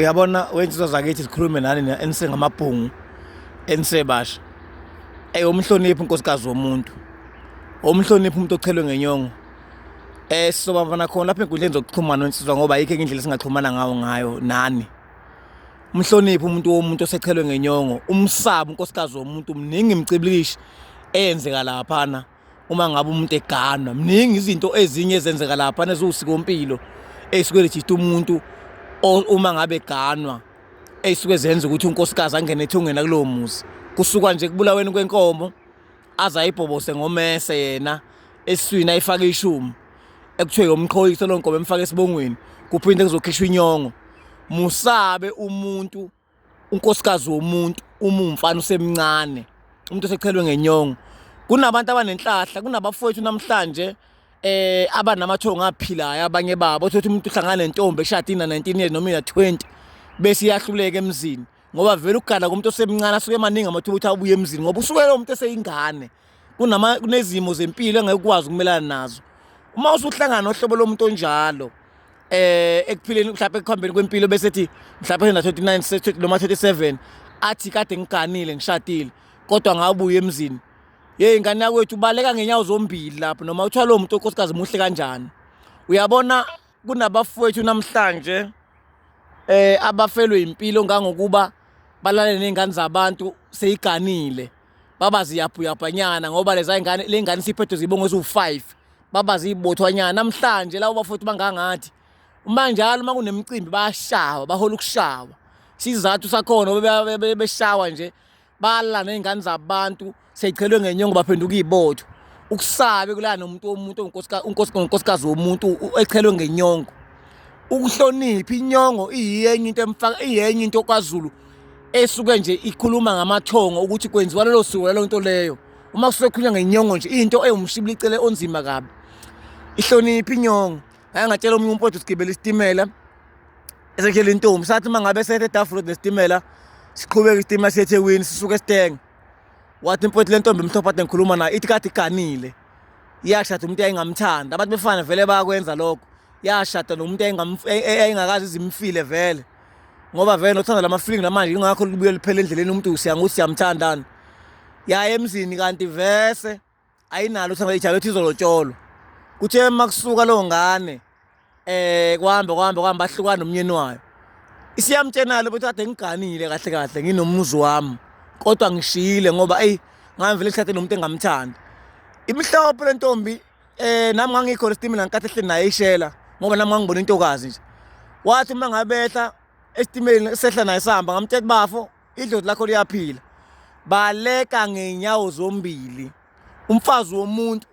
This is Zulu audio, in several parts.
uyabona wensizwa zakithi zikhulume nani enisengamabhungu enisebasha ey umhloniphi unkosikazi womuntu umhloniphi umuntu ochelwe ngenyongo eh sizobavana khona lapha enkundleni zokuxhumana wensizwa ngoba ayikho enye indlela singaxhumana ngawo ngayo nani umhloniphi umuntu womuntu osechelwe ngenyongo umsaba unkosikazi womuntu mningi imcibilikishi eyenzeka laphana uma ngabe umuntu eganwa mningi izinto ezinye ezenzeka lapha neziwusikompilo eyisuke lejita umuntu uma ngabe eganwa eyisuke zenza ukuthi unkosikazi angene ethungena kulowo muzi kusuka nje kubulaweni kwenkomo aze ayibhobose ngomese yena esiswini ayifake ishumi ekuthiwe yomqhoyise lo nkomo emfake esibongweni kuphinde kuzokhishwa inyongo musabe umuntu unkosikazi womuntu uma umfana usemncane umuntu osechelwe ngenyongo kunabantu abanenhlahla kunabafowethu namhlanje eh abanamathongo aphilayo abanye babo uthi umuntu uhlangana nentombi eshadini na 19 years noma ya 20 bese iyahluleka emzini ngoba vele ukugana komuntu osemncane asuke emaningi amathuba ukuthi abuye emzini ngoba usuke lo muntu eseyingane kunama kunezimo zempilo engeke ukwazi ukumelana nazo uma usuhlangana nohlobo lomuntu onjalo eh ekuphileni mhlawumbe ekuhambeni kwempilo bese ethi mhlawumbe na 29 noma 37 athi kade ngiganile ngishadile kodwa ngabuye emzini hey ngane yakwethu ubaleka ngenyawo zombili lapho noma uthiwa lo muntu onkosikazi muhle kanjani uyabona kunabafowethu namhlanje eh abafelwe impilo ngangokuba balalele nezingane zabantu seyiganile baba ziyabhuyabhanyana ngoba leza ngane le ngane siphethe zibongo eziwu-5 baba ziyibothwanyana namhlanje labo bafowethu bangangathi uma njalo uma kunemicimbi bayashawa bahola ukushawa isizathu sakhona beshawa nje bala ney'ngane zabantu seyichelwe ngenyongo baphenduka iy'botho ukusabe kulala nomuntu womuntu unkosikazi womuntu echelwe ngenyongo ukuhlonipha inyongo iyenye into emfaka iyenye into kwazulu esuke nje ikhuluma ngamathongo ukuthi kwenziwa lelo siko lelo nto leyo uma kusuke kukhulunywa ngenyongo nje into ewumshibilicele onzima kabi ihloniphi inyongo ngake ngatshela omunye umpotho sigibela isitimela esekhela intombi sathi uma ngabe sethe edafula nesitimela siqhubeke isitimela siye ethekwini sisuke esitenge wathi impotho le ntombi emhlophe ade ngikhuluma nayo ithi kade iganile yashada umuntu yayingamthanda abantu befana vele bayakwenza lokho yashada nomuntu yayingakazi izimfile vele ngoba vele nothanda lama-feeling namanje ingakho libuye liphele endleleni umuntu siyanga ukuthi siyamthandani yaye emzini kanti vese ayinalo uthanda ijabe ethi izolotsholwa kuthe uma kusuka leyo ngane um kuhambe kuhambe kuhambe ahlukane nomnyeni wayo isiyamtshenalo ukuthi kade ngiganile kahle kahle nginomuzi wami kodwa ngishiyile ngoba eyi ngamvele isikhathi nomuntu engamthandi imhlophe le ntombi Eh nami ngangikhona isitimela ngenkathi ehleli naye ishela ngoba nami ngangibona intokazi nje. Wathi uma ngabehla esitimeleni sehla naye sihamba ngamtshela ukuthi bafo idlozi lakho liyaphila. Baleka ngenyawo zombili. Umfazi womuntu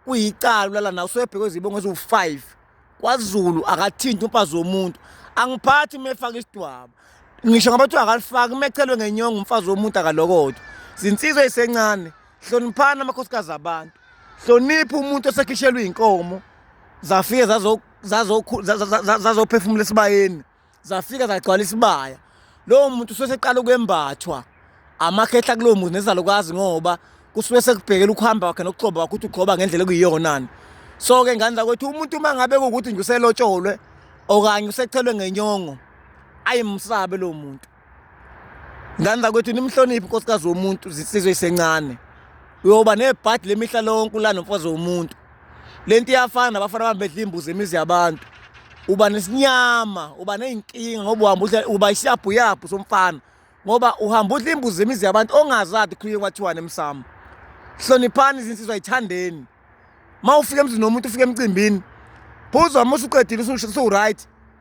kuyicala ulala nawe usuyebhekwe izibongo eziwu-5 kwaZulu akathinti umfazi womuntu angiphathi uma efaka isidwaba ngisho ngabe kuthiwa akalifaki uma echelwe ngenyongo umfazi womuntu akalokodwa zinsizwa ezisencane hloniphani amakhosikazi abantu hlonipha umuntu osekhishelwe iy'nkomo zafike zazophefumula esibayeni zafika zagcwala isibaya lowo muntu usuke seqala ukwembathwa amakhehla kulowo muntu nezalukwazi ngoba kusuke sekubhekela ukuhamba kwakhe nokugxoba kwakhe ukuthi ugxoba ngendlela ekuyiyonani so-ke ngane zakwethu umuntu uma ngabe kuwukuthi nje uselotsholwe okanye usethelwe ngenyongo ayimsabe lowo muntu ngani zakwethu nimhloniphi unkosikazi womuntu zisizwe isencane uyoba nebhadi lemihla lonke ulana mfazi womuntu le nto iyafana nabafana bami bedla imbuzi emizi yabantu uba nesinyama uba ney'nkinga ngoba uhamba udla uba isiyabhuyabhu somfana ngoba uhamba udla imbuzi emizi yabantu ongazadi khulike kwathiwane emsamo hloniphani izinsizwa yithandeni uma ufika emzini womuntu ufika emcimbini phuzwa uma usuqedile usuwuright